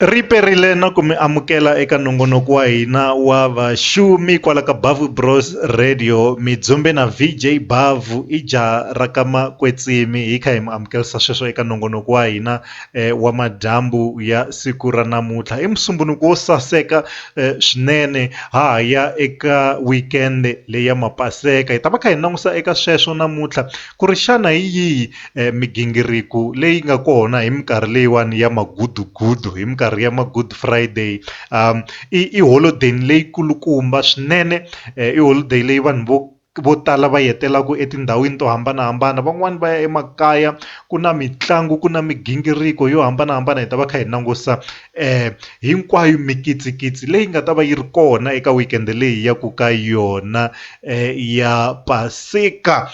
Riperile na ku mi amukela eka nongonoko wa hina wa vaxumi kwala ka Bavu Bros Radio mi dzumbe na VJ Bavu i jaha ra ka Makwetsimi hi kha hi mi amukelisa sweswo eka nongonoko wa hina eh, wa madyambu ya siku ra namuntlha i musumbunuko wo saseka eh, swinene ha ha ya eka weekend leyi ya mapaseka hi ta va kha hi langusa eka sweswo namuntlha ku ri xana hi yihi migingiriko leyi nga kona hi minkarhi leyiwani ya magudugudu hi minkarhi ya ma-good friday i i holodeni leyi kulukumba swinene i holiday leyi vanhu vo vo tala va yi hetelelaka etindhawini to hambanahambana van'wani va ya emakaya ku na mitlangu ku na migingiriko yo hambanahambana hi ta va kha hi langusa hinkwayo mikitsikitsi leyi nga ta va yi ri kona eka weekend leyi ya ku ka yona ya paseka .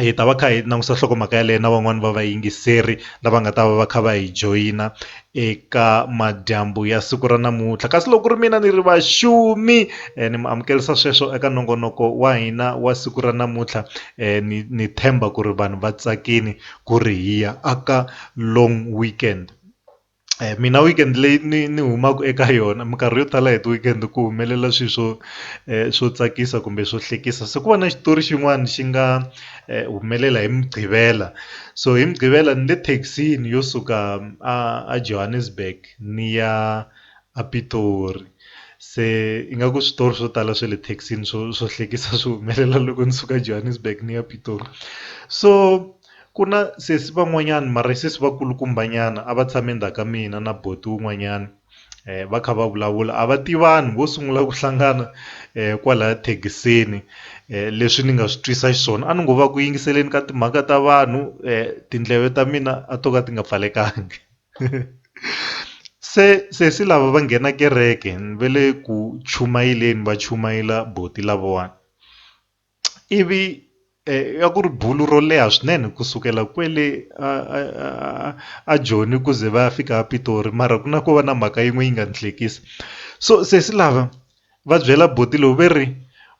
hi ta va kha hi langusa nhlokomhaka yaleyo na van'wani va va yingiseri lava nga ta va va kha va hi joyina eka madyambu ya siku ra namuntlha kasi loko ku ri mina ni ri vaxumi ni mi amukelisa sweswo eka nongonoko wa hina wa siku ra namuntlha ni ni tshemba ku ri vanhu va tsakini ku ri hi ya aka long weekend. mina weekend leyi ni ni humaka eka yona minkarhi yo tala hi ti weekend ku humelela swilo swo swo tsakisa kumbe swo hlekisa se ku va na xitori xin'wana xi nga humelela hi mugqivela so hi mugqivela ni le thekisini yo suka a Johannesburg ni ya a Pitori se ingaku switori swo tala swa le thekisini swo swo hlekisa swi humelela loko ni suka Johannesburg ni ya Pitori so. Ku na sesi van'wanyana mara i sesi va kulukumba nyana a va tshame ndzhaku ka mina na buti wun'wanyana eh, va kha va vulavula a va tivani vo sungula ku hlangana eh, kwalaya thekisini eh, leswi ni nga swi twisa xiswona a ni ngo va ku yingiseleni ka timhaka ta vanhu eh, tindleve ta mina a to ka ti nga pfalekangi se sesi lava va nghena kereke ni ve le ku chumayeleni va chumayela boti lavawani ivi ya ku ri bulu ro leha swinene ku sukela kwele a a a a a Joni ku ze va ya fika a Pitori mara ku na ko va na mhaka yin'we yi nga ni hlekisa so sesi lava va byela buti loyi ve ri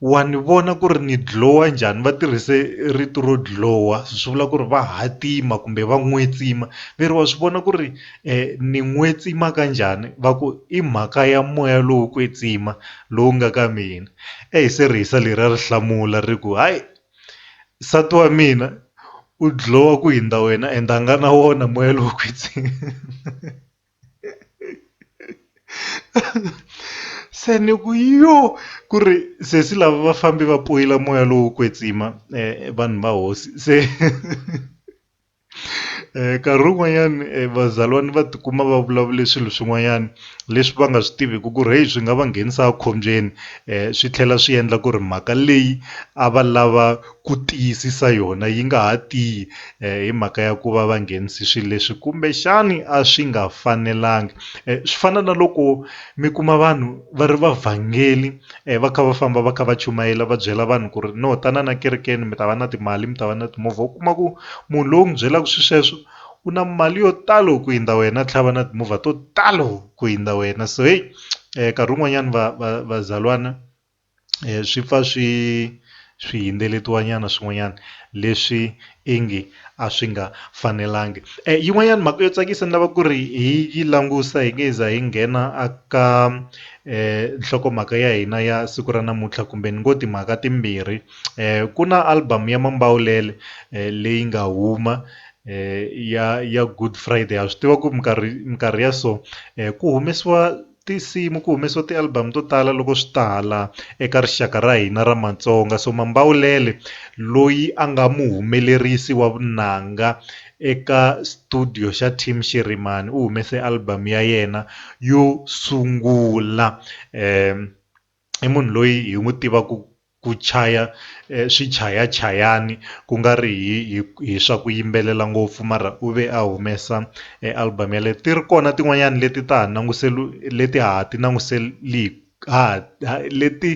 wa ni vona ku ri ni dlhowa njhani va tirhise rito ro dlhowa swi vula ku ri va hatima kumbe va n'wetsima ve ri wa swi vona ku ri. ni n'we tsima ka njhani va ku i mhaka ya moya lowo kwetsima lowu nga ka mina eyi se rihisa leriya ri hlamula ri ku hayi nsati wa mina u dlowa ku hindza wena ende a nga na wona moya lowo kwetsima se ni ku yo ku ri sesi lava va fambi va poyila moya lowo kwetsima vanhu va hosi se nkarhi wun'wanyani vazalwani va tikuma va vulavule swilo swin'wanyani leswi va nga swi tiviku ku ri heyi swi nga va nghenisa a khombyeni swi tlhela swi endla ku ri mhaka leyi a va lava ku tiyisisa yona yi nga ha tiyi hi mhaka ya ku va va nghenise swi leswi kumbexani a swi nga fanelanga swi fana na loko mi kuma vanhu va ri va vhangeli. va kha va famba va kha va chumayela va byela vanhu ku ri no tanana ekerekeni mi ta va na timali mi ta va na timovha u kuma ku munhu loyi u n'wi byelaka swilo sweswo u na mali yo talo ku hundza wena a tlhela a va na timovha to talo ku hundza wena so heyi nkarhi wun'wanyana va va vazalwana swi pfa swi swihindzeleto nyana swin'wanyana leswi ingi a swi nga fanelangi. E, yin'wanyana mhaka yo tsakisa ni lava ku ri hi yi langusa hi nge za hi nghena aka e, nhlokomhaka ya hina ya siku ra namuntlha kumbe ni ngo timhaka timbirhi e, ku na album ya mambawulele e, leyi nga huma e, ya ya good friday ha swi tiva ku minkarhi minkarhi ya so e, ku humesiwa tinsimu ku humesiwa ti album to tala loko swi ta hala eka rixaka ra hina ra Matsonga so Mambawulele loyi a nga muhumelerisi wa vunanga eka studio xa Team Shirimani u humese album ya yena yo sungula um i munhu loyi hi n'wi tivaka ku chaya swichayachayani ku nga ri hi hi hi swa ku yimbelela ngopfu mara u ve a humesa e album yaleyo ti ri kona tin'wanyani leti ta ha leti ha ha ti leti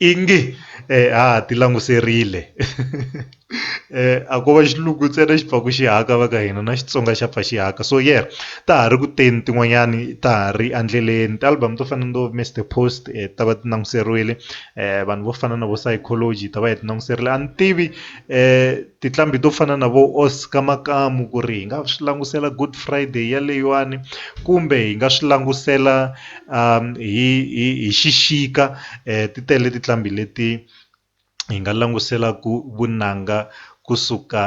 i nge ha ha ti languserile. a ko va xilungu ntsena xi pfaka xi haka va ka hina na Xitsonga xa pfa xi haka so yeah ta ha ri ku teni tin'wanyani ta ha ri endleleni ti album to fana na vo Mister Post ta va ti languteriwile vanhu vo fana na vo Saichology hi ta va hi ti languterile a ni tivi tinqambi to fana na vo Oscar Makamu ku ri hi nga swi langutisela Good Friday yaleyiwani kumbe hi nga swi langutisela hi hi hi xixika ti tele tinqambi leti. hi nga langutisela ku vunanga kusuka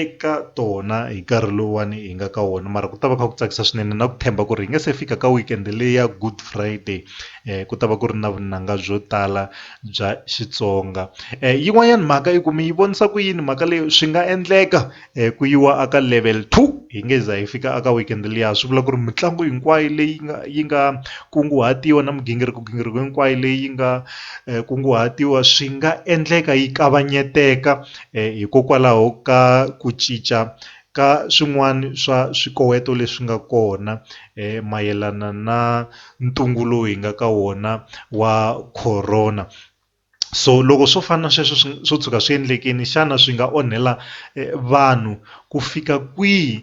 eka tona hi nkarhi lowuwani hi nga ka wona mara ku ta va kha ku tsakisa swinene na ku tshemba ku ri hi nga se fika ka weekend leyi ya good friday ku ta va ku ri na vunanga byo tala bya Xitsonga yin'wanyana mhaka yi ku mi yi vonisa ku yini mhaka leyi swi nga endleka. ku yiwa a ka level two hi nge za hi fika a ka weekend liya swi vula ku ri mitlangu hinkwayo leyi nga yi nga kunguhatiwa na migingiriko gingiriko hinkwayo leyi nga kunguhatiwa swi nga endleka yi kavanyeteka hikokwalaho ka ku cinca ka swin'wana swa swikoweto leswi nga kona mayelana na ntungu lowu hi nga ka wona wa Corona. so loko swo fana na sweswo swi swo tshuka swi endlekile xana swi nga onhela vanhu ku fika kwihi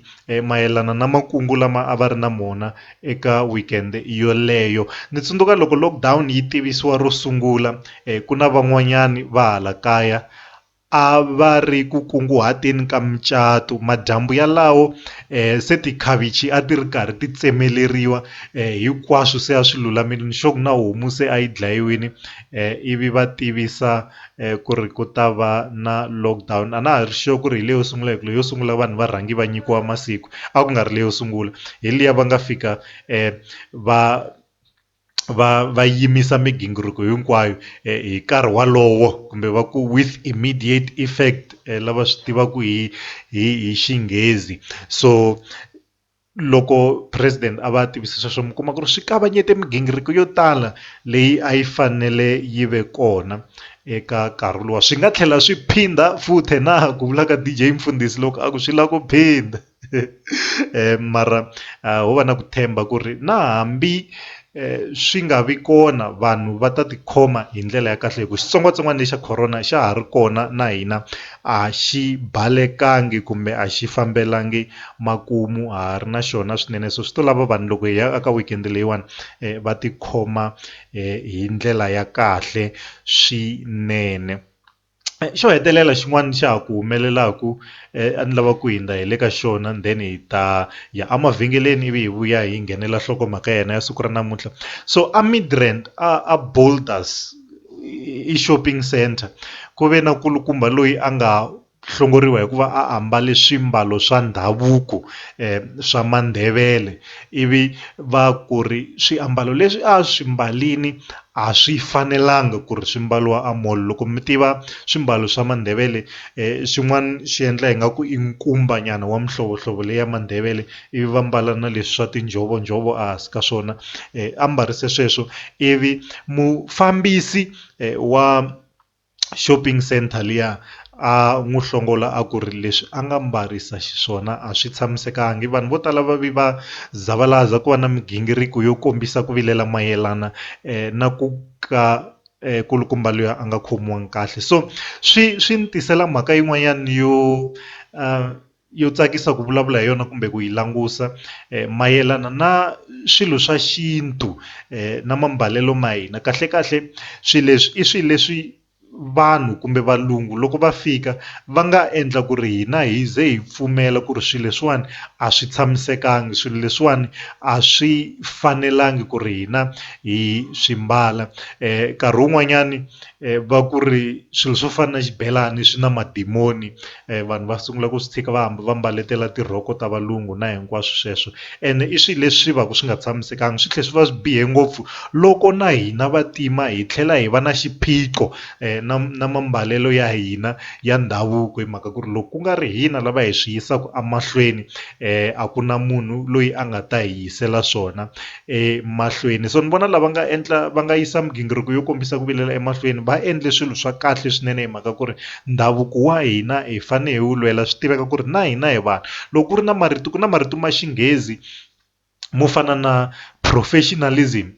mayelana na makungu lama a va ri na mona eka weekend yoleyo ni tsundzuka loko lockdown yi tivisiwa ro sungula ku na van'wanyani va hala kaya a va ri ku kunguhateni ka mucato. Madyambu yalawo se tikhavichi a ti ri karhi ti tsemeleriwa, hinkwaswo se a swi lulamile, nixo ku na homu se a yi dlayiwile. Ivi va tivisa ku ri ku ta va na lockdown. A na ha ri sure ku ri hi leyo sungula hikuva leyo sungula vanhu va rhange va nyikiwa masiku, a ku nga ri leyo sungula. Hi liya va nga fika va. va va yimisa migingiriko hinkwayo hi nkarhi wolowo kumbe va ku with immediate effect lava swi tivaka hi hi hi xinghezi so loko president a va tivisa sweswo mi kuma ku ri swi kavanyeta migingiriko yo tala leyi a yi fanele yi ve kona eka nkarhi luwa swi nga tlhela swi phinda futhi na ku vulaka D_J Mfundhisi loko a ku swi lava ku phinda. mara ho va na ku tshemba ku ri na hambi swi nga vi kona vanhu va ta tikhoma hi ndlela ya kahle hi ku xitsongwatsongwana lexa corona xa ha ri kona na hina a xi balekangi kumbe a xi fambelangi makumu ha ha ri na xona swinene so swi to lava vanhu loko hi ya eka weekend leyiwani va tikhoma hi ndlela ya kahle swinene. xo hetelela xin'wana xa ha ku humelelaku a ni lava ku hundza hi le ka xona then hi ta ya emavhengeleni ivi hi vuya hi nghenela nhlokomhaka ya hina ya siku ra namuntlha so a Midrand a Boulders i shopping centre ku ve na nkulukumba loyi a nga hlongoriwa hikuva a ambale swimbalo swa ndhavuko swa mandhevele ivi va ku ri swiambalo leswi a swi mbalini A swi fanelanga ku ri swi mbariwa a mall loko mi tiva swimbalo swa Mandebele xin'wana xi endla ingaku i nkumba nyana wa mihlovohlovo leyi ya Mandebele i vi va mbala na leswi swa tinjhovonjhovo a hansi ka swona ambarile sweswo i vi mufambisi wa. shopping centre liya a n'wi hlongola a ku ri leswi a nga mbarisa xiswona a swi tshamisekanga vanhu vo tala va vi va zavalaza ku va na migingiriko yo kombisa ku vilela mayelana na ku ka kulukumba loyi a nga khomiwanga kahle so swi swi ni tisela mhaka yin'wanyana yo . yo tsakisa ku vulavula hi yona kumbe ku yi langusa eh, mayelana na swilo swa xintu eh, na mambalelo ma hina kahle kahle swilo leswi i swilo leswi vanhu kumbe valungu loko va fika va nga endla ku ri hina hi ze hi pfumela ku ri swilo leswiwani a swi tshamisekangi swilo leswiwani a swi fanelangi ku ri hina hi swi mbala um nkarhi wun'wanyani um va ku ri swilo swo fana na xibelani swi na madimoni vanhu va sungula ku swi tshika va hamba va mbaletela tirhoko ta valungu na hinkwaswo sweswo ene i swilo leswi va ku swi nga tshamisekanga swi tlhela swi va swi bihe ngopfu loko na hina vantima hi tlhela hi va na xiphiqo na na mambalelo ya hina ya ndhavuko hi mhaka ku ri loko ku nga ri hina lava hi swi yisaka emahlweni a ku na munhu loyi a nga ta hi yisela swona. emahlweni so ni vona lava nga endla va nga yisa migingiriko yo kombisa ku vilela emahlweni va endle swilo swa kahle swinene hi mhaka ku ri ndhavuko wa hina hi fane hi wu lwela swi tiveka ku ri na hina hi vanhu loko ku ri na marito ku na marito ma xinghezi mo fana na professionalism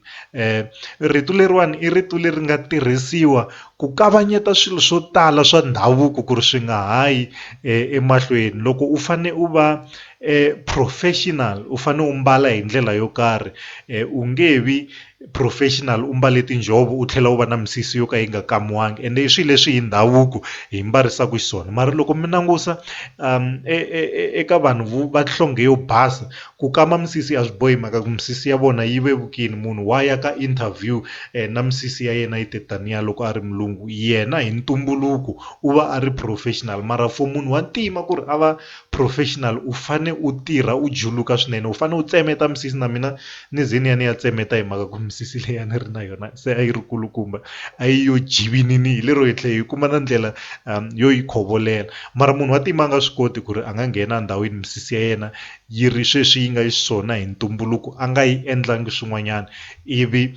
rito leriwani i rito leri nga tirhisiwa ku kavanyeta swilo swo tala swa ndhavuko ku ri swi nga ha yi emahlweni loko u fane u va. professional u fanele u mbala hi ndlela yo karhi u nge vi professional u mbale tinjhovo u tlhela u va na misisi yo ka yi nga kamiwanga ende i swilo leswi hi ndhavuko hi mbarisaku xiswona mara loko mi langusa eka vanhu vo va nhlonge yo basa ku kama misisi a swi bohi mhaka ku misisi ya vona yi vevukini munhu wa ya ka interview na misisi ya yena yi te taniya loko a ri mulungu yena hi ntumbuluko u va a ri professional mara for munhu wa ntima ku ri a va. professional u fane u tirha u juluka swinene u fane u tsemeta misisi na mina ni ze ni ya ni ya tsemeta hi mhaka ku misisi leyi a ni ri na yona se a yi ri kulukumba a yi yo jivinini hi lero hi tlhela hi kuma na ndlela yo yi khovolela mara munhu wa tima a nga swi koti ku ri a nga nghena endhawini misisi ya yena yi ri sweswi yi nga xiswona hi ntumbuluko a nga yi endlangi swin'wanyana. ivi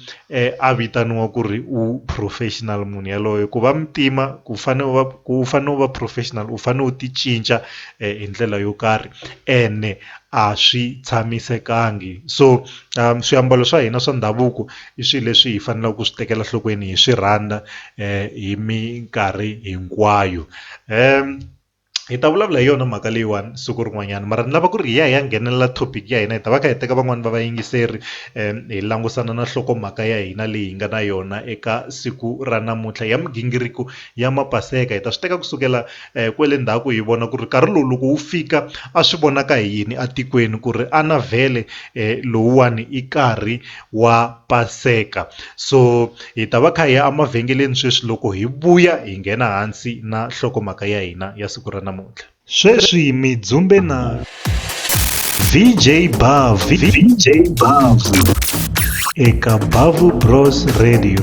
a vitaniwa ku ri u professional munhu yaloye ku va muntima ku fane u va ku u fane u va professional u fane u ti cinca hi ndlela yo karhi ene a swi tshamisekangi so swiambalo swa hina swa ndhavuko i swilo leswi hi faneleke ku swi tekela nhlokweni hi swi rhandza hi minkarhi hinkwayo . hi ta vulavula hi yona mhaka leyiwani siku rin'wanyana mara ni lava ku ri hi ya hi ya nghenelela topic ya hina hi ta va kha hi teka van'wani va vayingiseri hi langusana na nhlokomhaka ya hina leyi hi nga na yona eka siku ra namuntlha ya migingiriko ya mapaseka hi ta swi teka kusukela kwele ndzhaku hi vona ku ri nkarhi lowu loko wu fika a swi vonaka hi yini etikweni ku ri a na vhele lowuwani i karhi wa paseka so hi ta va kha hi ya emavhengeleni sweswi loko hi vuya hi nghena hansi na nhlokomhaka ya hina ya siku ra namuntlha sweswi mi dzumbe na vj bav vj bav eka bavu bros radio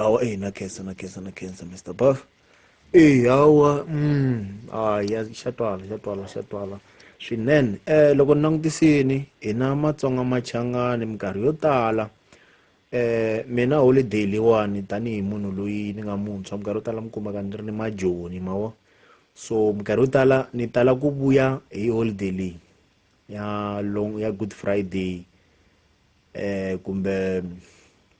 awa eyi na khensa na khensa na khensa mr buff eyi awa mm hayi ya xa twala xa twala xa twala swinene um loko ni langutisini hina matsonga machangani minkarhi yo tala um mina holiday leyiwani tanihi munhu loyi ni nga muntshwa minkarhi yo tala mi kumaka ni ri ni majoni ma vo so minkarhi yo tala ni tala ku vuya hi holiday leyi ya long ya good friday um kumbe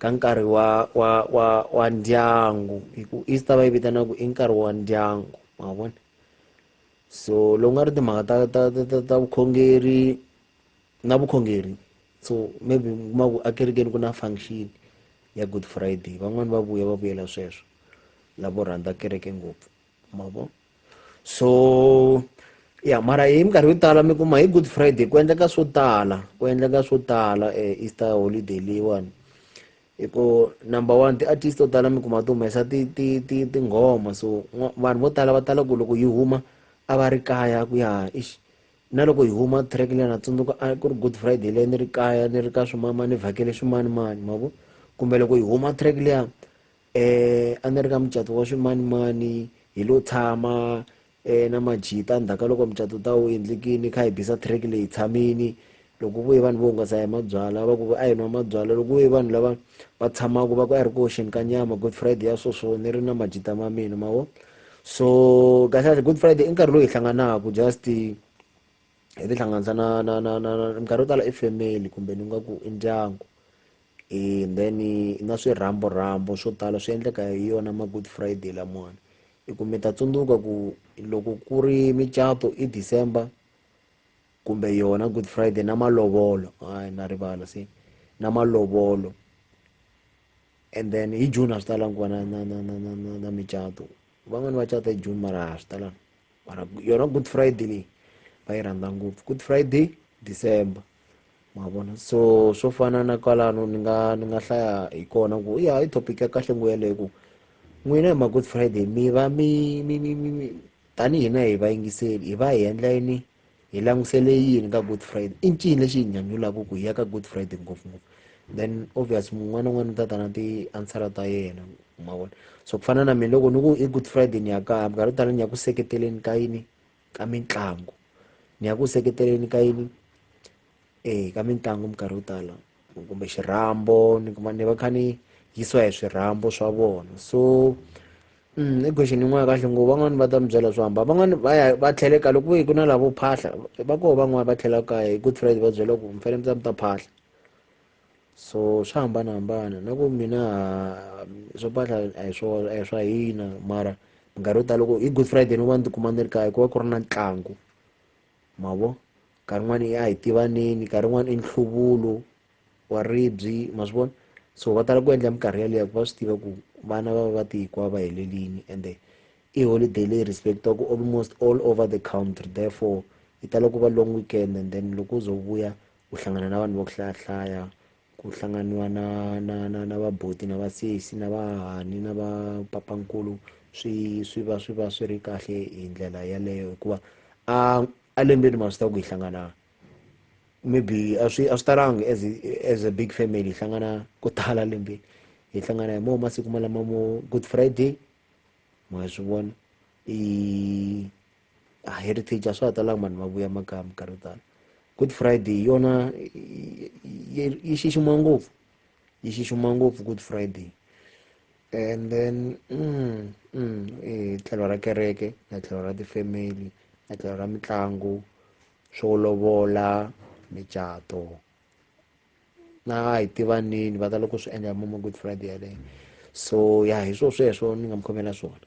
ka nkarhi wa wa wa wa ndyangu hi ku easter va yi vitana ku i nkarhi wa ndyangu ma vona so loko nga ri timhaka ta ta ta ta ta vukhongeri na vukhongeri so maybe mi kuma ku akerekeni ku na function ya good friday van'wani va vuya va vuyela sweswo lavo rhandza kereke ngopfu mavo so ya mara hi minkarhi yo tala mi kuma hi good friday ku endleka swo tala ku endleka swo tala eh, easter holiday leyiwani hi ku number one ti-artist to tala mi kuma ti humesa tinghoma so vanhu vo tala va tala ku loko yi huma a va ri kaya ku ya ixi na loko hi huma track leyi na tsundzuka a ku ri good friday leyi ni ri kaya ni ri ka swimama ni vhakele swimanimani ma vo kumbe loko hi huma track leya um a ni ri ka mucato wa swimanimani hi lo tshama um na majita ndzhaku ka loko mucato ta wu endlekini kha hi bisa track leyi tshamini loko vuye vanhu vo hungasa hi mabyala va ku a hi nwa mabyala loko vuye vanhu lava va tshamaka va ku a ri ku oxeni ka nyama good friday ya swoswo ni ri na majita ma mina ma vo so kahlekahle good friday i nkarhi lowu hi hlanganaka just hi tihlanganisa na na na na minkarhi yo tala i family kumbe ni nga ku i ndyangu and then na swirhambo rhambo swo tala swi endleka hi yona ma good friday lamawani i ku mi ta tsundzuka ku loko ku ri micato i december kumbe yona good friday na malovolo hayi na rivala se na malovolo and then hi june a swi talangi ku va na na na na na na na micato van'wani va cata hi june mara a swi talangi mara yona good friday leyi va yi rhandza ngopfu good friday december ma vona so swo fana na kwalano ni nga ni nga hlaya hi kona ku ya i topic ya kahle ngo yeleyo ku n'wina hi ma good friday mi va mi mi mi mi tanihi hina hi vayingiseli hi va hi endla yini hi langusele yini ka good friday i ncini lexi hi nyanyulaka ku hi ya ka good friday ngopfungopfu then obvious mun'wana un'wana u ta ta na ti-answera ta yena ma vona so ku fana na mina loko ni ku i good friday ni ya kaya minkarhi yo tala ni ya ku seketeleni ka yini ka mitlangu ni ya ku seketeleni ka yini eya ka mitlangu minkarhi yo tala kumbe xirhambo ni kuma ni va kha ni yisiwa hi swirhambo swa vona so mm, i question yin'wana kahle ngo van'wani va ta mi byela swo hamba van'wani va ya va tlhele ka loko ku na lavo phahla va koho van'wani va tlhela kaya hi good friday va byela ku mi fanele mi ta mi ta phahla so swa hambanahambana na ku mina swo phahla a hi swo a hi swa hina mara minkarhi yo tala loko hi good friday ni va ni tikuma ni ri kaya ku va ku ri na ntlangu ma vo nkarhi wun'wana i a hi tivaneni nkarhi wun'wana i nhluvulo wa ribyi ma swi vona so va tala ku endla minkarhi yaleyo ku va swi tiva ku vana va va va tihikuva va helelini ende i holiday leyi respectaka almost all over the country therefore yi tala ku va long weekend and then loko u zo vuya u hlangana na vanhu va ku hlayahlaya ku hlanganiwa na na na na vaboti na vasesi na vahahani na va papankulu swi swi va swi va swi ri kahle hi ndlela yaleyo hikuva a a lembeni ma swi ta ku hi hlangana maybe a swi a swi talanga as as a big family hi hlangana ko tala lembeni hi hlangana hi moo masiku malama mo good friday ma swi vona i a ah, heritage a swa ha talanga vanhu va vuya makaya minkarhi yo tala good friday yona yi xixima ngopfu yi xixima ngopfu good friday and then mm, mm, eh, tlhelo ra kereke na tlhelo ra tifamily na tlhelo ra mitlangu swo lovola micato na hi tivanini va ta loko swi endla hi mama good friday yaleyo so ya hi swo sweswo ni nga mi khomela swona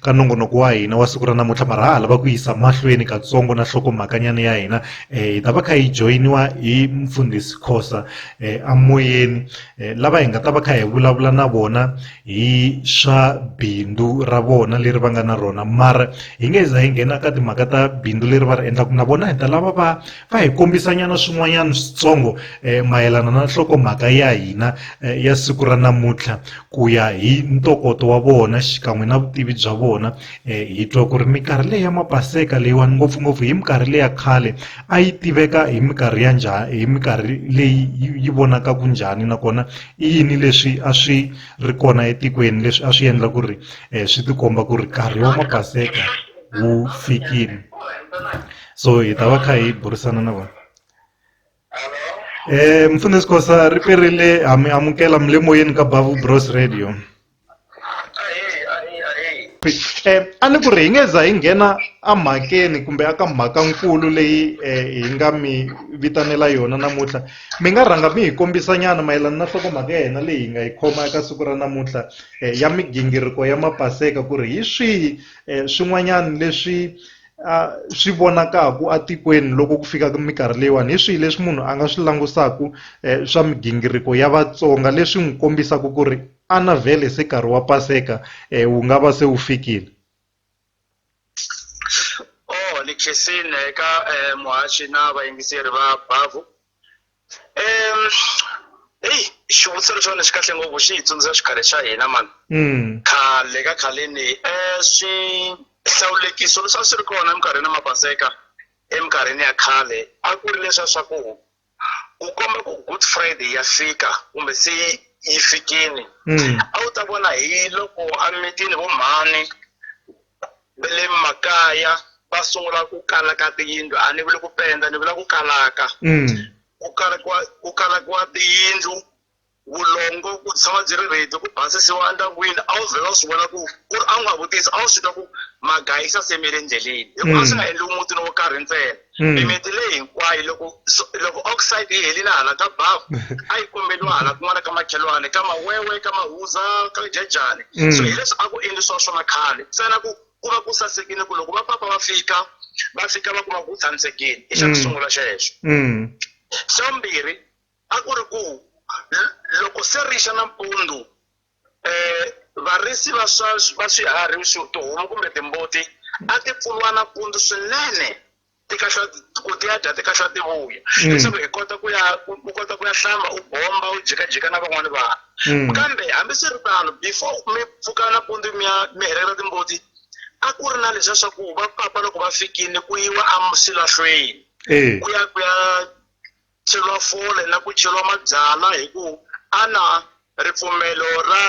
ka nongonoko wa hina wa siku ra namuntlha mara ha lava ku yisa mahlweni katsongo na nhlokomhakanyana ya hina um hi ta va kha hi joyiniwa hi mfundhisi khosa um amoyeni um lava hi nga ta va kha hi vulavula na vona hi swa bindzu ra vona leri va nga na rona mara hi nge za hi nghena ka timhaka ta bindzu leri va ri endlaka na vona hi ta lava va a hi kombisanyana swin'wanyana switsongo eh, mayelana na nhlokomhaka ya hina eh, ya siku ra namuntlha ku ya hi ntokoto wa vona xikan'we na vutivi bya vona eh, hi twa ku ri minkarhi leyi ya mapaseka leyiwani ngopfungopfu hi minkarhi leya khale a yi tiveka hi minkarhi ya njhani hi minkarhi leyi yi vonaka ku njhani nakona i yini leswi a swi ri kona etikweni leswi a swi endla ku ri eh, swi tikomba ku ri nkarhi wa mapaseka wu fikile so hi ta va kha hi burisana na vona eh mfundisi kosa ri perile ha mi amukela mi le moyeni ka bavu bros radio eh a ni ku ri hi nge za hi nghena emhakeni kumbe aka mhakankulu leyi eh, hi nga mi vitanela yona namuntlha mi nga rhanga mi hi kombisanyana mayelana na nhlokomhaka ya hina leyi hi nga yi khoma eka siku ra namuntlha eh, ya migingiriko ya mapaseka ku ri hi swihi eh, swin'wanyana leswi swi vonakaka etikweni loko ku fika ka minkarhi leyiwani hi swihi leswi munhu a nga swi langutisaka swa migingiriko ya Vatsonga leswi n'wi kombisaka ku ri a na vhele se nkarhi wa paseka wu nga va se wu fikile. Ni khensile ka muhaxi na vayingiseri va Bavu. Em, eyi xivutiso lexiwani xi kahle ngopfu xi hi tsundzuxa xikhale xa hina mani mm. khale ka khaleni um swihlawulekiso leswi a swi ri kona eminkarhini ya mapaseka eminkarhini ya khale a ku ri leswiya swa ku ku komba ku good friday ya fika kumbe se yi fikini mm. a wu ta vona hi loko emitini vo mhani va le makaya va sungula ku kala ka tiyindlu a ni vuli ku penda ni vula ku kalaka mm. ku kalakiwa ku kalakiwa tiyindlu vulongo ku tshama byi ri redi ku basisiwa endyangwini a wu vhela u swi vona ku ku ri a wu nga vutisi a wu swi twa ku magayisa semele endleleni hikuva a swi nga mm. endliwi mutini wo karhi ntsena Hmm. mimiti leyi hinkwayo loko so- loko oxide yi helile hala ka bavu a yi kombeliwa hala kun'wana ka makhelwane ka mawewe ka mahuza ka jajani Mm. so hileswi a ku endlisiwa swona khale ntsena ku ku va ku sasekile ku loko vapapa va fika va fika va kuma ku ku tshamisekile i xa ku Mm. sungula xexo Mm. xa vumbirhi a ku ri ku l- loko se rixa nampundzu um varisi va swa va swiharhi tihomu kumbe timbuti a ti pfuriwa nampundzu swinene ti kahla ku ti ya dya ti kahla ti vuya mm. leswaku hi kota ku ya u kota ku ya hlamba u bomba u jikajika na van'wani vanhu mm. kambe hambiswiritano before mi pfuka nampundzu mi ya mi helela timbuti a ku ri na leswiya swa ku va papa loko va fikile ku yiwa a swilahlweni eh. ku ya ku ya chelwa fole na ku chelwa mabyala hi ku a na ripfumelo ra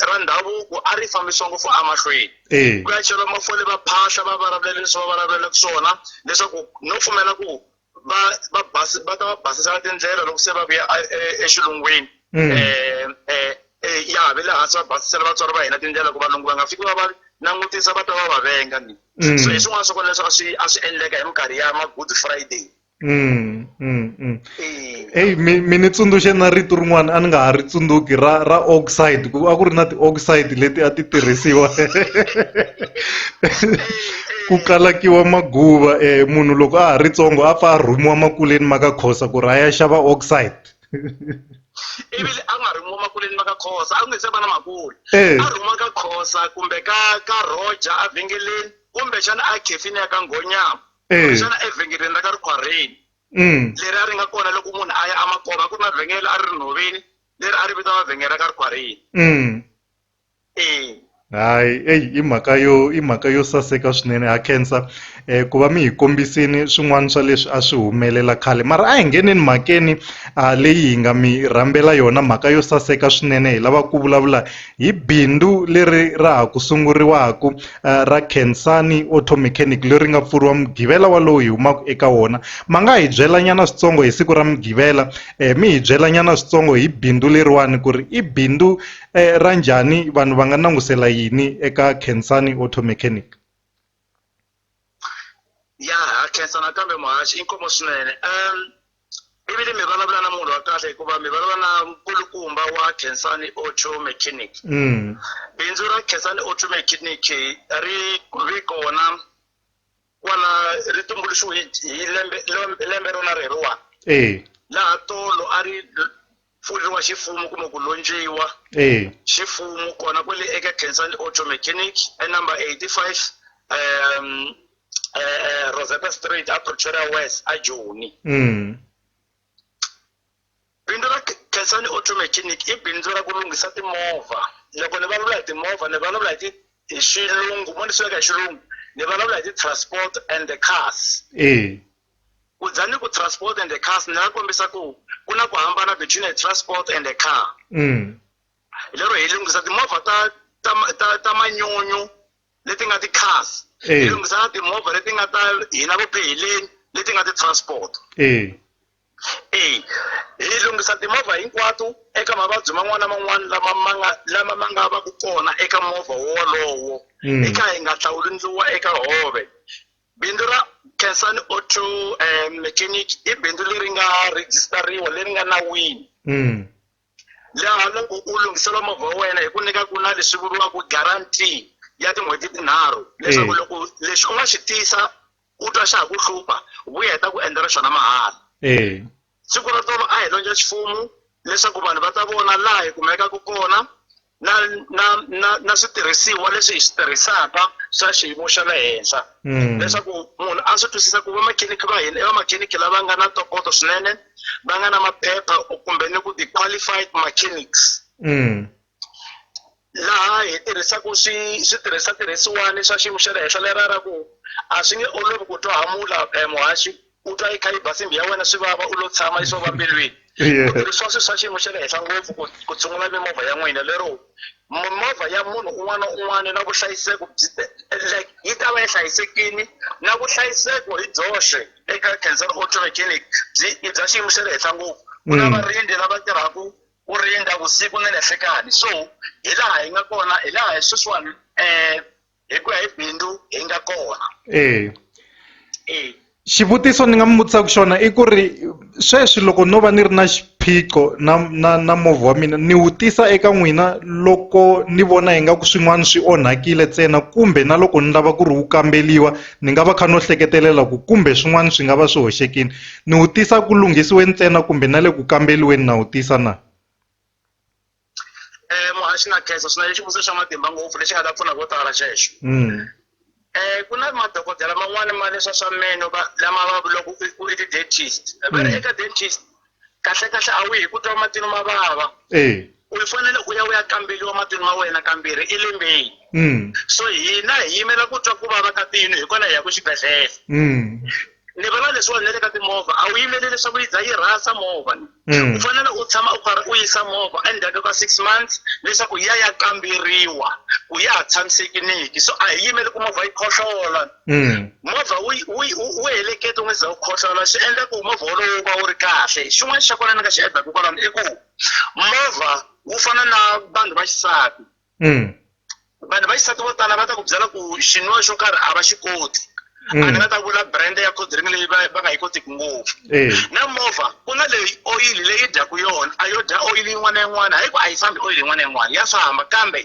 ra ndhavuko a ri fambisiwa ngopfu emahlweni eh. ku ya cheriwa mafole va phahla va varavulela leswi va varavulela swona leswaku no pfumela ku va va basi va ta va basisa tindlela loko se va vuya e, e, exilungwini um ya ve le hansi va basisela vatswari va hina tindlela ku valungu va nga fiki va va langutisa va ta va va venga ni mm. so hi swin'wana swa kona leswi a swi a swi endleka hi minkarhi ya ma-good friday Mm, mm, mm. eyi mi mi ni tsundzuxe na rito rin'wana a ni nga ha ri tsundzuki ra ra oxide ku a ku ri na ti-oxide leti a ti tirhisiwa ku kalakiwa maguva um munhu loko a ha ri tsongo a pfa a rhumiwa makuleni ma ka khosa ku ri a ya xava oxide ivile a nga rhumiwa makuleni ma ka khosa a ku nge se va na makule a rhumiwa ka khosa kumbe ka ka roger a vhengeleni kumbexana a khefini ya ka nghonyama eh. xana evhengeleni ra ka rikhwarheni mm. leri a ri nga kona loko munhu a ya amakoma ku ri na vhengele a ri ri nhoveni leri a ri vitaniwa vhengele ra ka rikhwarheni mm. e hayi eyi i mhaka yo i mhaka yo saseka swinene ha khensa eh ku va mi hi kombisini swin'wana swa leswi a swi humelela khale mara a hi ngeneni mhakeni a leyi hi nga mi rhambela yona mhaka yo saseka swinene hi lava ku vulavula Hi bindzu leri ra ha ku sunguriwaka ra Khensani Auto Mechanic leri nga pfuriwa Mugqivela walowu hi humaka eka wona. Ma nga hi byelanyana switsongo hi siku ra Mugqivela mi hi byelanyana switsongo hi bindzu leriwani ku ri i bindzu ra njhani vanhu va nga langusela yini eka Khensani Auto Mechanic. ya ha khensa nakambe muhaxi i nkomo swinene um ivile mi vulavula na munhu wa kahle hikuva mi vulavula na nkulukumba wa khensani auto mechanic mm. bindzu ra khensani auto mechanic ri ve kona kwala ri tumbuluxiwe hi lembe lembe rona reriwani laha tolo a ri pfuriwa xifumu kumbe ku lontshiwa eh. xifumu kona kwele eka cancer and auto mechanic enumber 85 um uh, rosetta street a pretoria west a joni mm. bindzu ra cancer and auto mechanic i bindzu ra ku lunghisa timovha loko ni vulavula hi timovha ni vulavula hi hi xilungu mo ni swi veka hi xilungu ni vulavula hi ti-transport and the cars eh. ku dya ni ku transport and the cars ni nga kombisa ku ku na ku hambana between a transport and a car mm. hi lero hi lunghisa timovha ta ta ta, ta manyunyu leti nga ti-cars eh. hi lunghisa na timovha leti nga ta hina vupheheleni leti nga ti-transport eh. eh hi lunghisa timovha hinkwato eka mavabyi man'wana na man'wana lama ma nga lama ma nga va ku kona eka movha wolowo mm. hi kha hi nga hlawuli ndluwa eka hove Bindzu ra Khensani Auto um Mechanic i bindzu leri nga rejistariwa leri nga nawini Mm. laha loko u lunghisela movha wa wena hi ku nyika ku na leswi vuriwaka guarantee ya tin'hweti tinharhu leswaku Eh. loko lexi u nga xi tisa u twa xa ha ku hlupha vuya hi ta ku endlela xona mahala Eh. siku ra tolo a hi londza xifumu leswaku vanhu va ta vona laha hi kumekaka kona na na na na switirhisiwa leswi hi swi tirhisaka swa xiyimo xa le henhla hmm. leswaku munhu a swi twisisa ku vamakhinikhi va hina i vamakhinikhi lava nga na ntokoto swinene va nga na maphepha kumbe ni ku ti-qualified mechanics hmm. laha hi tirhisaka swi switirhisa tirhisiwani swa xiyimo xa le henhla lera ra ku a swi nge olovi ku twa hamula eh, muhaxi u twa yi kha yi ba simbi ya wena swi vava u lo tshama yi swo va mbilwini ku tirhisiwa swilo swa xiyimo xa le henhla ngopfu ku ku tshungula mimovha ya n'wina lero mimovha ya munhu un'wana na un'wana na vuhlayiseko byi like yi ta va yi hlayisekile na vuhlayiseko hi byoxe eka cancer auto mechanic byi i bya xiyimo xa le henhla ngopfu ku na mm. varindzi lava tirhaka ku rindza vusiku ni nhlekani so hi laha hi nga kona hi laha hi sweswiwani um hi ku ya hi bindzu hi nga kona e e xivutiso ni nga mi vutisaka xona i ku ri sweswi loko no va ni ri na xiphiqo na na na movha wa mina ni wu tisa eka n'wina loko ni vona ingaku swin'wana swi onhakile ntsena kumbe na loko ni lava ku ri wu kambeliwa ni nga va kha no hleketelela ku kumbe swin'wana swi nga va swi hoxekile Ni wu tisa ku lunghisiweni ntsena kumbe na le ku kambeliweni na wu tisa na? Eh, muhaxi na khensa swinene xivutiso xa matimba ngopfu lexi nga ta pfuna vo tala xexo mm. eh, ku na madokodela man'wani ma leswa swa meno lama va vulaka ku i ti-dentist va ri mm. eka dentist kahle kahle a wu hi ku twa matino ma vava eh. u fanele u ya u ya kambeliwa matino ma wena kambirhi elembeni mm. so hina hi yimela ku twa ku vava ka tino hi kona hi ya ku xibedhlele ni vona leswiwani na le ka timovha a wu yimeli leswaku yi za yi rhasa movha ni Mm. u fanele u tshama u karhi u yisa movha endzhaku ka six months leswaku yi ya ya kamberiwa ku ya ha tshamisekiniki so a hi yimeli ku movha yi khohlola Mm. movha wu wu wu- wu heleketa u nga za wu khohlola swi endla ku movha wolowo wu va wu ri kahle xin'wana xa kona ni nga xi endlaku kwalano i ku movha wu fana na vanhu va xisati mm. vanhu va xisati vo tala va ta ku byela ku xin'wana xo karhi a va xi koti mm. a ni nga ta vula brand ya codring leyi va nga yi kotiki ngopfu eh. na movha ku na leyi oyili leyi dyaku yona a yo dya oyili yin'wana na yin'wana hayi ku a yi fambi oyili yin'wana na yin'wana ya famba kambe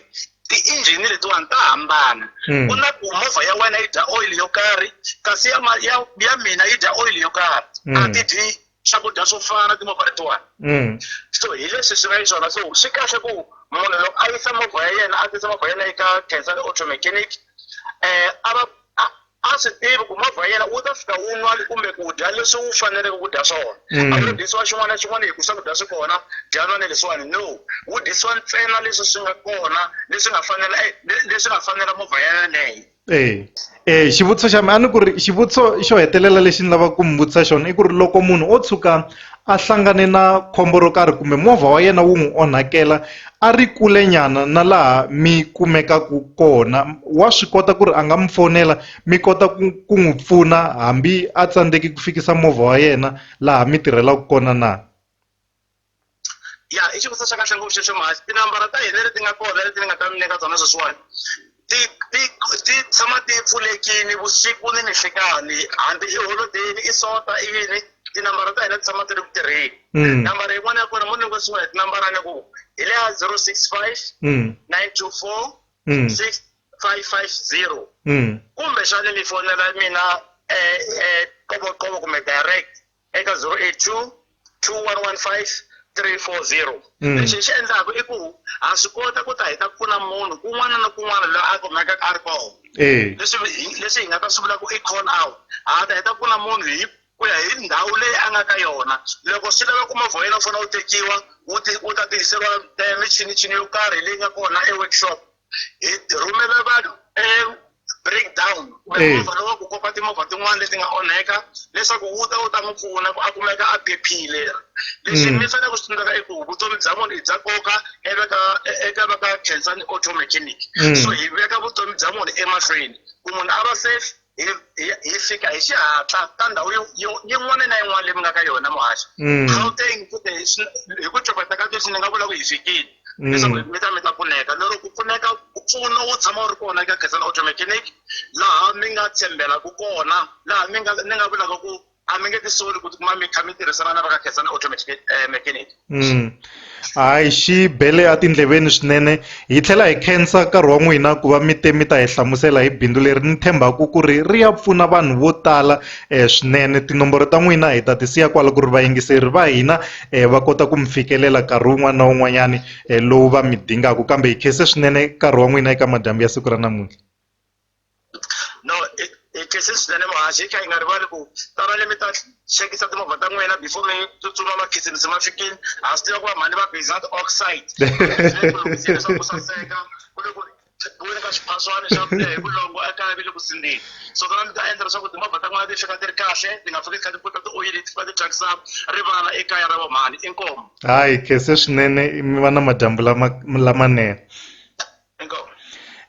ti-engine letiwani ta hambana hmm. ku na ku movha ya wena yi dya oyili yo karhi kasi ya ya ya mina yi dya oyili yo karhi hmm. a ti dyi swakudya swo fana na timovha letiwani mm. so hi leswi swi nga yi swona so swi kahle ku munhu loko a yisa movha ya yena a tisa movha ya yena eka cancer automechanic um a va a swi tivi ku movha ya yena wu ta fika wu nwa kumbe ku dya leswi wu faneleke ku dya swona mm. a wu dyisiwa xin'wana na xin'wana hi ku swakudya swi kona dya nwa ni leswiwani no wu dyisiwa ntsena leswi swi nga kona leswi nga fanela eh, leswi nga fanela movha ya yeleyo eya e xivutiso xa mina a ni ku ri xivutiso xo hetelela lexi ni lavaka ku mi vutisa xona i ku ri loko munhu o tshuka a hlangane na khombo ro karhi kumbe movha wa yena wu n'wi onhakela a ri kule nyana na laha mi kumekaka kona wa swi kota ku ri a nga mi fonela mi kota ku ku n'wi pfuna hambi a tsandzeki ku fikisa movha wa yena laha mi tirhelaku kona na. ya i xivutiso xa kahle ngopfu xexo mhani tinambara ta hina leti nga kona leti ni nga ta mi nyika tona sweswiwani ti ti ti tshama ti pfulekini vusiku ni ninhlikani hambi i holodeni i sota i yini tinambara ta hina ti tshama ti ri ku tirheni hmm. nambara yin'wana ya kona mo ni ngosiwa hi tinambara ni ku hi leya zero six five hmm. nine two four hmm. six five five zero kumbexani mi fonela mina um eh, eh, qovoqovo kumbe direct eka 082 2115 340 mm. lexi hi xi endlaka i ku ha swi kota ku ta hi ta pfuna munhu kun'wana na kun'wana loyi a kumekaka a ri koho eh. leswi hi nga ta swi vula ku i call out ha ta hi ta pfuna munhu hi ku ya hi ndhawu leyi a nga ka yona loko swi lava ku movha yena u fanele u tekiwa wu ta tirhiseriwa eh, michinichini yo karhi leyi nga kona e-workshop hi hi rhumela vanhu e-breakdown kumbe Eh. movha lowa ku kopa timovha tin'wana leti nga onheka leswaku wu ta wu ta n'wi pfuna ku a kumeka a phephile lexi Mm. mi fanele ku xi tsundzuka i ku vutomi bya munhu i bya nkoka eka ka e- eka va ka khensani auto mechanic Mm. so hi veka vutomi bya munhu emahlweni ku munhu a va safe hi hi- hi fika hi xihatla ka ndhawu yo- yo- yin'wana na yin'wana leyi mi nga ka yona muhaxi Mm. gauteng futhi hi swi- hi ku copeta ka leswi ni nga vula ku hi fikile Mm. leswaku mi ta mi ta pfuneka lero ku pfuneka ku pfuna wu tshama wu ri kona eka khensani automechanic laha mi nga tshembelaku kona laha mi nga ni nga vulaka ku a mi nge ti soli ku tikuma mi kha mi tirhisana na va ka khensani automatic eh, mechanic mm. hayi xi bele etindleveni swinene hi tlhela hi khensa nkarhi wa n'wina ku va mi te mi ta hi hlamusela hi bindzu leri ni tshembaka ku ri ri ya pfuna vanhu vo tala um swinene tinomboro ta n'wina hi ta ti siya kwala ku ri vayingiseri va hina um va kota ku mi fikelela nkarhi wun'wana na wun'wanyani um lowu va mi dingaka kambe hi khense swinene nkarhi wa n'wina eka madyambu ya siku ra namuntlha no hi khensile swinene muhaxi hi kha hi nga rivali ku tanani mi ta chekisa timovha ta n'wina before mi tsutsuma makhisimusi ma fikile ha swi tiva ku va mhani va bizat oxide leswaku saseka ku le ku buweni ka xiphaswani xa kule hi vulongo ekaya vi le ku sindzeni so tona mi ta endla leswaku timovha ta n'wina ti fika ti ri kahle ti nga fiki ti kha ti puta tioyili ti fika ti thyakisa rivala ekaya ra vamhani inkomu hayi khense swinene mi va na madyambu lama lamanene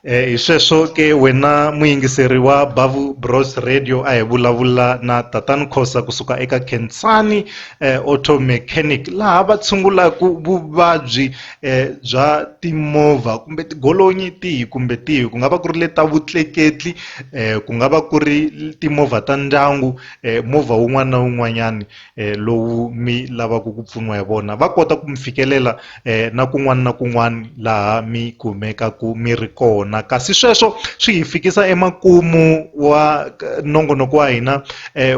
Eh, hi sweswo ke wena muyingiseri wa bavu bros radio a hi vulavula na tatani khosa kusuka eka khensani eh, auto mechanic laha va tshungulaka vuvabyi eh, bya timovha kumbe tigolonyi tihi kumbe tihi ku nga va ku ri le ta vutleketli eh, ku nga va ku ri timovha ta ndyangu eh, movha wun'wana na wun'wanyani lowu mi lavaka ku pfuniwa hi vona va kota ku mi fikelela na kun'wana na kun'wana laha mi kumekaka mi ri kona kasi sweswo swi hi fikisa emakumu wa nongonoko wa hina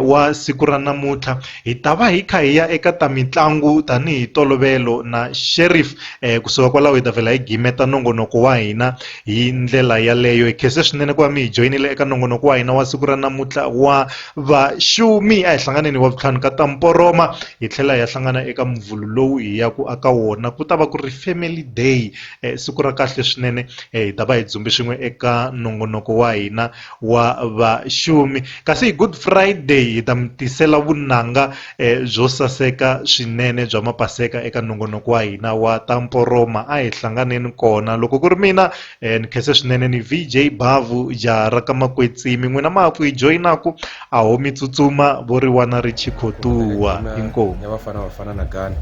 wa siku ra namuntlha hi ta va hi kha hi ya eka ta mitlangu tanihi tolovelo na sheriff kusuka kwalaho hi ta vhela hi gimeta nongonoko wa hina. Hi ndlela yaleyo, hi khense swinene ku va mi hi joyinile eka nongonoko wa hina wa siku ra namuntlha wa vaxumi. A hi hlanganeni hi Wavuntlhanu ka ta mporoma, hi tlhela hi ya hlangana eka Muvhulu lowu hi yaku aka wona. Ku ta va ku ri Family Day, siku ra kahle swinene. Hi ta va hi dzumbe swin'we eka nongonoko wa hina. wa vaxumi kasi hi Good Friday hi ta mi tisela vunanga eh, byo saseka swinene bya mapaseka eka nongonoko wa hina wa ta mporoma a hi hlanganeni kona loko ku ri mina eh, ni khese swinene ni VJ Bavu jaha ra ka makwetsimi n'wina ma ku yi joyinaku a ho mi tsutsuma vo ri wana ri chikhotuwa inkomu ya vafana vafana na gana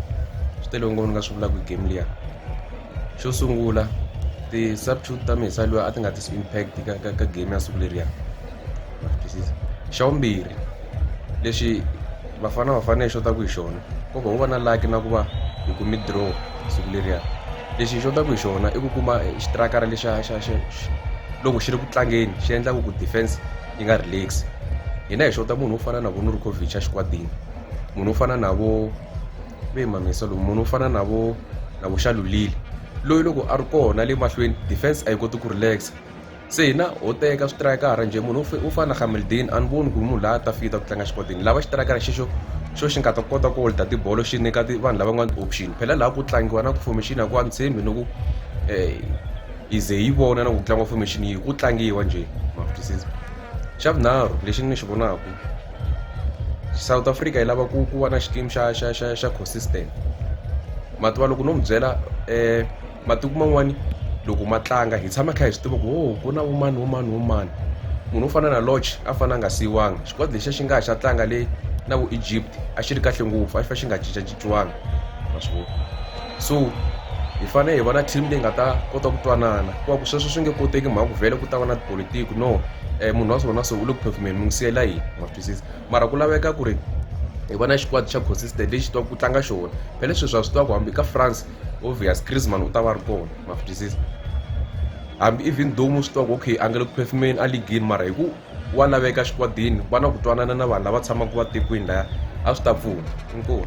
swi tele ngopfu ni nga swi vulaka hi game liya xo sungula ti-substitute ta mehe se loyi a ti nga tisi impact ka ka ka game ya siku leriya ma swi twisisa xa vumbirhi lexi Bafana Bafana yi xotaku hi xona ko va wu va na lucky na ku va hi kumi draw siku leriya lexi hi xotaku hi xona i ku kuma xitrakara lexa xa xa loko xi ri ku tlangeni xi endlaku ku defense yi nga relax hina hi xota munhu wo fana na vo Nurkovic a xikwadini munhu wo fana na vo ve mamisa lomu munhu u fana na vo na vo xalulile loyi loko a ri kona le mahlweni defense a yi koti ku relax se hina ho teka switrayikara njhe munhu u fana na gameldin a ni voni ku ri munhu laha a ta fita ku tlanga xikotini lava xitrayikara xexo xo xi nga ta kota ku holda tibolo xi nyika vanhu lava nga ni option phela laha ku tlangiwa na ku formation a ku a ni tshembi ni ku um yi ze yi vona na ku tlangiwa formation yi ku tlangiwa njhe ma swi twisisa xa vunharhu lexi ni xi vonaka South Africa yi lava ku ku va na xikimi xa xa xa xa consistent mativa loko no mi byela matiko man'wani loko ma tlanga hi tshama kha hi swi tiva ku ho ku na vo mani vo mani vo mani munhu wo fana na Lorch a fane a nga siyiwanga xikwadi lexiya xi nga ha xa tlanga le na vo Egypt a xi ri kahle ngopfu a xi fa xi nga cincacinciwanga ma swi vona. so hi fanele hi va na team leyi nga ta kota ku twanana ku va ku sweswo swi nge koteki mhaka ku vhele ku ta va na tipolitiki no um munhu wa swona so u le ku phefumeni mi n'wi siyela yini ma swi twisisa mara ku laveka ku ri hi va na xikwadi xa consistent lexi twaka ku tlanga xona phele sweswi a swi tiva ku hambi ka france obvious crisman u ta va ri kona ma swi twisisa hambi even though mu swi tiva ku okay a nga le ku phefumeni a ligini mara hi ku wa laveka xikwadini va na ku twanana na vanhu lava tshamaka va tekwini laya a swi ta pfuna inkomu